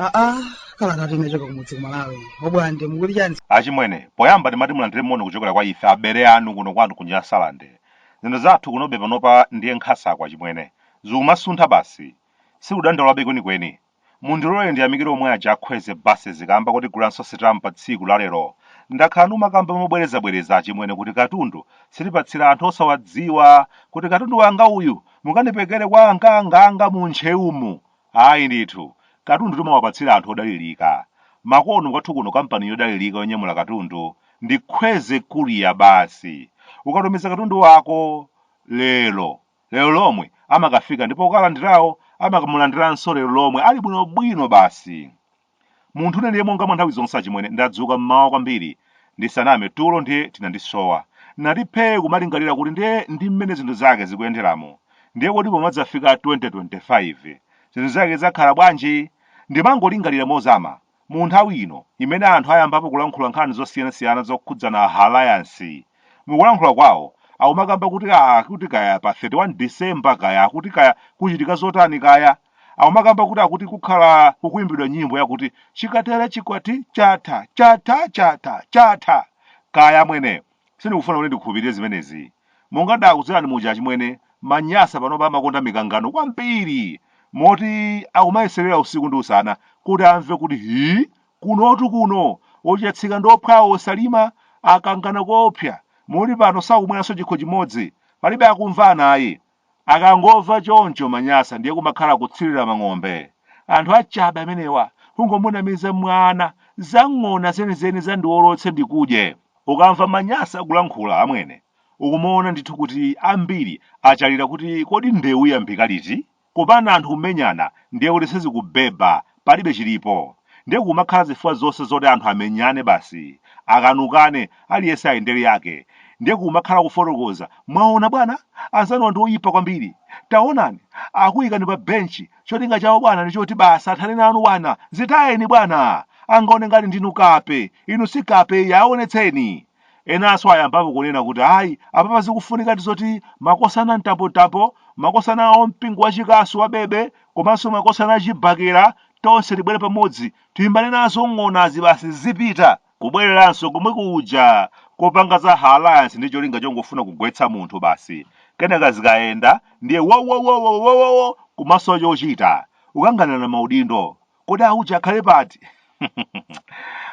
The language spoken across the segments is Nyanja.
aa kalata yochoka kumudzi kumalawi obwande mukuti chani achimwene poyamba ndimati mulandire moni kuchokera kwa ife abere anu kuno kwanu kunyasalande zinthu zathu kunobe panopa ndiye nkhasako achimwene zikumasuntha basi sikudandaulabe kwenikweni Mundilole ndiyamikire omwe aja a Kwezy buses kaamba kotigulanso stamp pa tsiku la lero. Ndakhala ndikumakamba mobwerezabwereza achimwene kuti katundu sitipatsira anthu osawadziwa kuti katundu wanga uyu mukandipekere kwa angaanga anga mu Ntcheumu. Ayi ndithu. Katundu timawapatsira anthu odalilika. Makono kwathu kuno kampani yodalilika yonyamula katundu ndi Kwezy Courier basi. Ukatumiza katundu wako lero lero lomwe amakafika ndipo okalandirawo amakamulandiranso lero lomwe ali bwinobwino basi munthu une ndiye monga mwa nthawi zonse achimwene ndadzuka mmawa kwambiri ndisaname tulo ndiye tinandisowa nati phee kumalingalira kuti ndiye ndi mmene zinthu zake zikuyenderamo ndiye kodi pomadzafika 2025 zinthu zake zakhala bwanji ndimangolingalira mozama Mu nthawi ino imene anthu ayambapo kulankhula nkhani zosiyanasiyana zokhudzana Alliance, mukulankhula kwawo akumakamba kuti akuti kaya pa 31 December kaya akuti kaya kuchitika zotani kaya akumakamba kuti akuti kukhala kukuyimbidwa nyimbo yakuti chikatere chikwati chatha chatha chatha chatha kaya amwene Sindikufuna kuti ndikhulupirire zimenezi. Monga ndakuuzirani muja achimwene, Manyasa panopa amakonda mikangano kwambiri moti akumayeserera usiku ndi usana kuti amve kuti ii kunotu kuno ochatsika ndi ophwawo osalima akangana koopsa moti pano sakumweranso chikho chimodzi. Palibe akumvana ayi. Akangomva choncho manyasa ndiye kumakhala kutsirira mang'ombe. Anthu achabe amenewa, kungomunamiza mwana za ng'ona zenizeni za ndiwolotse ndikudye. Ukamva manyasa akulankhula amwene, ukumaona ndithu kuti ambiri achalira kuti kodi ndewu iyambika liti? Kupanda anthu kumenyana ndiye kuti sizikubhebha palibe chilipo ndiye kumakhala zifukwa zonse zoti anthu amenyane basi akanukane aliyense ayendere yake ndiye kumakhala kufotokoza mwaona bwana anzanuwa ndi oyipa kwambiri taonani akuyikani pa benchi cholinga chawo bwana ndi choti basi athane nanu bwana zitayeni bwana angaone ngati ndinu kape inu si kape yaonetseni Enanso ayambapo kunena kuti ayi, apapa zikufunikadi zoti makosana a mtapomtapo, makosana a mpingo wachikasu wa Bebe komanso makosana a chibakera, tonse tibwere pamodzi tilimbane nazo ng'onazi basi zipita! Kubwereranso komwe kuja kopanga za alliance ndi cholinga chongofuna kugwetsa munthu basi, kenaka zikayenda ndiye wowowowowowowo! Kumasowa chochita, kukanganirana maudindo. Kodi auje akhale pati?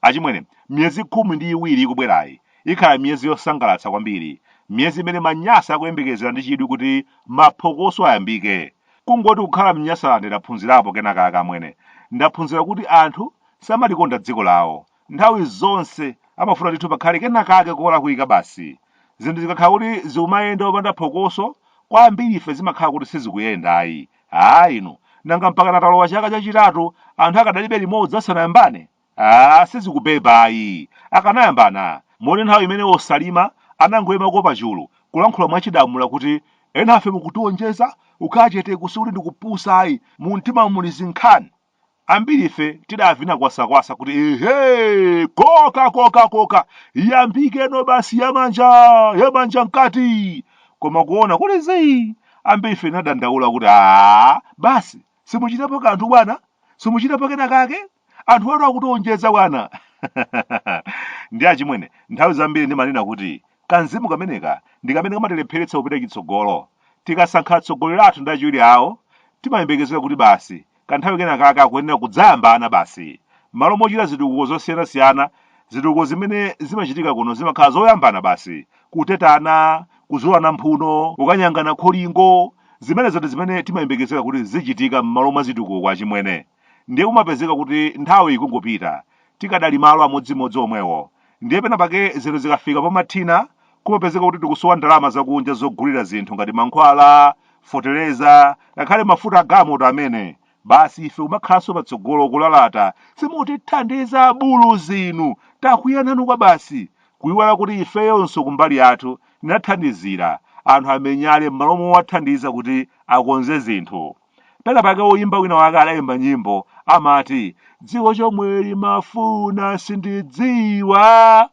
Achimwene, miyezi khumi ndi iwiri ikubwerayi ikhala miyezi yosangalatsa kwambiri, miyezi imene Manyasa akuyembekezera ndi chidwi kuti maphokoso ayambike. Kungoti kukhala m'Nyasaland ndaphunzirapo kenakake amwene. Ndaphunzira kuti anthu samalikonda dziko lawo, Nthawi zonse amafuna ndithu pakhale kenakake kolakwika basi. Zinthu zikakhala kuti zikumayenda popanda phokoso, kwa ambirife zimakhala kuti sizikuyenda ayi. Haa inu, nanga mpakana talowa chaka chachitatu anthu akadali be limodzi asanayambane? Haa sizikubeba ayi. Akanayambana, muone nthawi imene a Chilima anangoimako pachulu, kulankhula mwachidamula kuti, enafe mukutionjeza, kukhala cheteku sikuti ndi kupusa ayi, mumtimamu muli zinkhani. Ambirife tidavina kwasakwasa kuti ehe, koka koka koka, iyambikeno basi yamanja, yamanja mkati. Koma kuona kuli zii, ambirife tinadandaula kuti aa, basi simuchitapo kanthu bwana, simuchitapo kena kake, anthu anu akutionjeza bwana. Ndi achimwene, nthawi zambiri ndimanena kuti kamzimu kameneka ndi kamene kamatilepheretsa kupita chitsogolo. Tikasankha atsogoleri athu ndi achiwiri awo, timayembekezera kuti basi Kanthawi kenakake akuyenera kudzayambana basi. M'malo mochita zitukuko zosiyanasiyana, zitukuko zimene zimachitika kuno zimakhala zoyambana basi, kutetana, kuzulana mphuno, kukanyangana kholingo. Zimenezo ndi zimene timayembekezera kuti zizichitika m'malo mwa zitukuko achimwene. Ndiye kumapezeka kuti nthawi ikungopita, tikadali malo amodzimodzi omwewo. ndiye pena pake zinthu zikafika pomathina kumapezeka kuti tikusowa ndalama zakunja zogulira zinthu ngati mankhwala fotereza ngakhale mafuta agamoto amene basi ife kumakhalanso patsogolo kulalata simutithandiza abuluzi inu takwiya nanu kwabasi kuyiwala kuti ifeyonso kumbali yathu tinathandizira anthu amenyale m'malo mowathandiza kuti akonze zinthu pena pake woyimba wina wake adayimba nyimbo amati dziko chomwe limafuna sindidziwa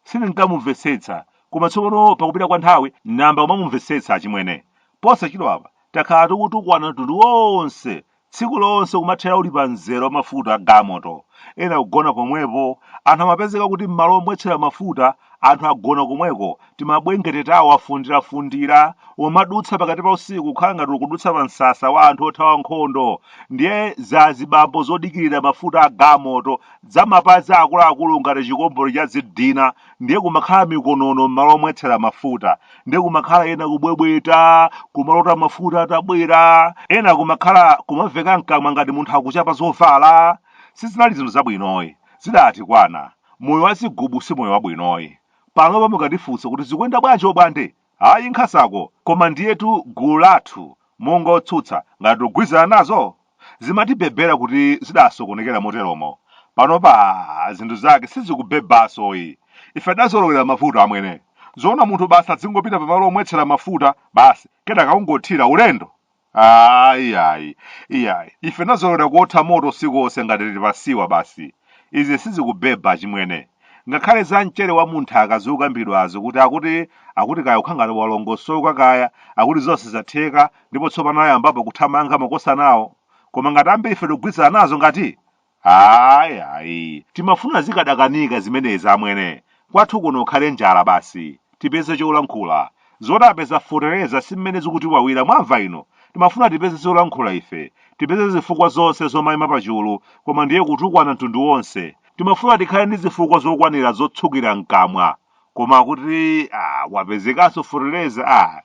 sindinkamumvetsetsa koma tsopano pakupita kwa nthawi ndayamba kumamumvetsetsa achimwene posachedwapa takhala tikutukwana mtundu wonse tsiku lonse kumathera uli pa mzere wa mafuta a gamoto ena kugona pomwepo anthu amapezeka kuti m'malo omwetsera mafuta Anthu agona komweko, timabwengete tawo afundirafundira, umadutsa pakati pa usiku kukhala ngati ukudutsa pa msasa wa anthu othawa nkhondo. Ndiye zazibambo zodikirira mafuta a gamoto, zamapazi akuluakulu ngati chikombole cha zidina, ndiye kumakhala mikonono m'malo omwetsera mafuta. Ndiye kumakhala ena kubwebweta, kumalota mafuta atabwera, ena kumakhala kumaveka mkamwa ngati munthu akuchapa zovala. Sizinali zinthu zabwinoyi. Zidatikwana. Moyo wa zigubu si moyo wabwinoyi. Panopa mukatifunsa kuti zikuyenda bwanji obwande? Ayi nkhasako, koma ndiyetu gulu lathu monga otsutsa ngati tikugwirizana nazo? Zimatibhebhera kuti zidasokonekera moteromo. Panopa aah zinthu zake sizikubebansoyi. Ife tidazolowera mavuto amwene. Zoona munthu basi adzingopita pamalo omwetsera mafuta basi kenaka kungothira ulendo? ayi ayi iyayi ife nazolowera kuotha moto usiku onse ngati tili pasiwa basi izi sizikubeba chimwene ngakhale za mchele wa mʼnthaka akuzikambidwazo kuti akuti akuti kaya ukhangati walongosoka kaya akuti zonse zatheka ndipo tsopano ayambapo kuthamanga makosanawo koma ngati ambiri ife tikugwirizana nazo ngati Ayi, ayi. Timafuna zikadakanika zimenezi amwene. Kwathu kuno ukhale njala basi. Tipeze cholankhula. Zoti apeza fetereza si mmene zikutiwawira mwamva inu? Timafuna tipeze zolankhula ife. Tipeze zifukwa zonse zomaima pachulu koma ndiye kutukwana mtundu wonse. Timafuna tikhale ndi zifukwa zokwanira zotsukira mkamwa. koma kuti ah, wapezekanso fotereza ah,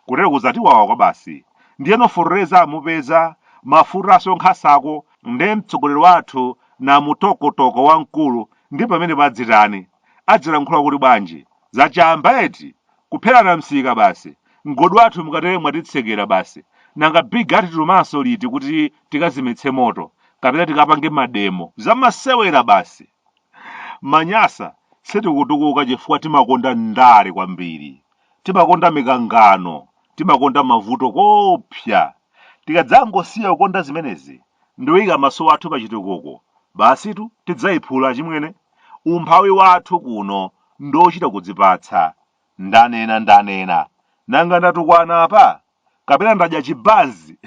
kutero kuzatiwawa kwabasi ndiyeno fotereza amupeza mafutanso nkhasako nde mtsogoleri wathu na mutokotoko wamkulu ndi pamene padzitani adzilankhula kuti bwanji zachamba eti kupherana msika basi mgodi wathu mukatere mwatitsekera basi nanga big atitumanso liti kuti tikazimetse moto kapena tikapange mademo zamasewera basi Manyasa sitikutukuka chifukwa timakonda ndale kwambiri. Timakonda mikangano, timakonda mavuto koopsa. Tikadzangosiya kukonda zimenezi ndikuika maso athu pa chitukuko, basitu tidzaiphula achimwene. Umphawi wathu kuno ndi wochita kudzipatsa. Ndanena ndanena. Nanga ndatukwana apa? Kapena ndadya chibanzi?